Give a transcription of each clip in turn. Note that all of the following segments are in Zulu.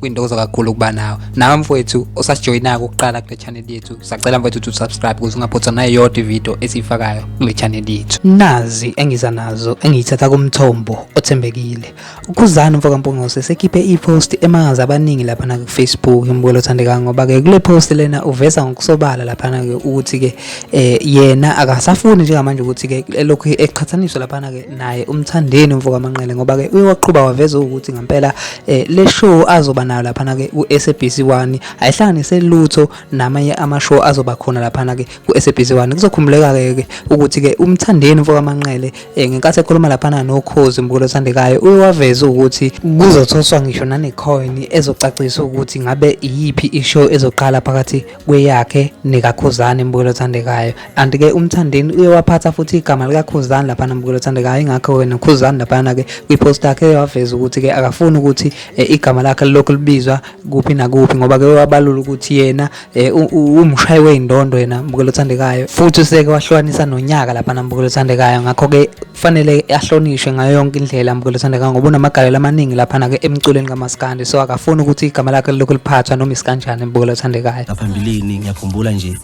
kwintokozo kakhulu ukuba nawe nawe mfowethu osasijoyinako ukuqala kule channel yethu sacela mfowethu ukuthi usubscribe ukuze ungaphothwa nayo yodwa ividiyo esiyifakayo kule channel yethu nazi engiza nazo engiyithatha kumthombo othembekile ukhuzani mfoka mpungose sekhiphe ipost emangaza abaningi lapha na kufacebook umbukelo othandekayo ngoba ke kule post lena uveza ngokusobala lapha na ke ukuthi ke eh, yena akasafuni njengamanje ukuthi ke elokhu eqhathaniswa lapha na ke naye umthandeni umfo kamanqele ngoba ke uye waqhuba waveza ukuthi ngempela eh, le show azoba nayo laphana ke ku SABC 1 ayihlanganise lutho namanye ama show azoba khona laphana ke ku SABC 1 kuzokhumbuleka ke ukuthi ke umthandeni umfo kamanqele eh, ngenkathi ekhuluma laphana nokhozi mbukelo othandekayo uye waveza ukuthi kuzothoswa ngisho nane coin ezocacisa ukuthi ngabe iyiphi i show ezoqala phakathi kweyakhe nekakhuzani mbukelo othandekayo and ke umthandeni uye waphatha futhi igama likakhuzani laphana mbukelo othandekayo ingakho wena khuzani laphana ke kwipost yakhe waveza ukuthi ke akafuni ukuthi e, igama lakhe lilokhu libizwa kuphi nakuphi ngoba ke wabalula ukuthi yena e, umshayi weyindondo yena mbukelo othandekayo futhi useke wahlukanisa nonyaka laphana mbukelo othandekayo ngakho ke kufanele ahlonishwe ngayo yonke indlela Mkhulu Thandeka ngoba unamagalelo amaningi laphana ke emculweni kaMaskandi so akafuni ukuthi igama lakhe lilokhu liphathwa noma isikanjani Mkhulu Thandekayo ngaphambilini ngiyakhumbula nje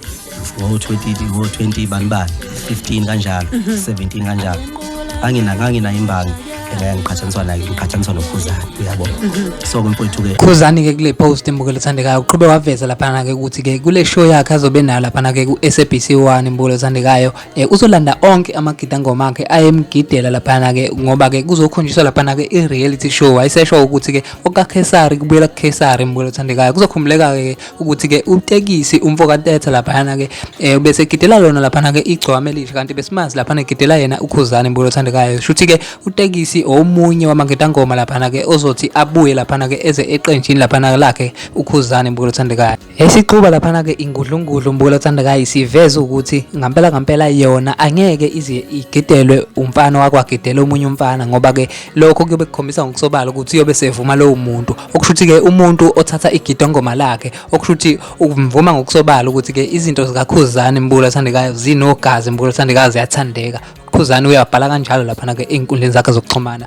ngo-20 ngo-20 banibani 15 kanjalo 17 kanjalo angina nganginayo imbangi ngeke ngiqhathaniswa naye ngiqhathaniswa nokhuzani uyabo so kumfowethu ke khuzani ke kule post imbukelo ethandekayo uqhube waveza laphana ke ukuthi ke kule show yakhe azobe nayo laphana ke ku-SABC 1 imbukelo ethandekayo eh, uzolanda onke amagidangoma akhe ayemgidela laphana-ke ngoba-ke kuzokhonjiswa laphana-ke i-reality show wayesesho ukuthi-ke okakhesari kubuyela kukhesari mbuyela othandekayo kuzokhumbuleka-ke ukuthi-ke utekisi umfo katetha laphana-ke um bese egidela lona laphana-ke igcwame elisha kanti besimazi laphana egidela yena ukhuzane mbuyela othandekayo shuthi-ke utekisi omunye wamagidangoma laphana-ke ozothi abuye laphana-ke eze eqenjini laphana-ke lakhe ukhuzane mbuyela othandekayo Esiquba laphana ke ingudlungudlu Mbukelo Thandekayi siveza ukuthi ngampela ngampela yona angeke ize igidelwe umfana wakwagidela omunye umfana ngoba ke lokho kuyobe kukhombisa ngokusobala ukuthi uyobe sevuma lowo muntu okusho ukuthi ke umuntu othatha igidongoma lakhe okusho ukuthi umvuma ngokusobala ukuthi ke izinto zikakhuzani Mbukelo Thandekayo zinogazi Mbukelo Thandekayo ziyathandeka ukhuzani uyabhala kanjalo laphana ke ey'nkundleni zakhe zokuxhumana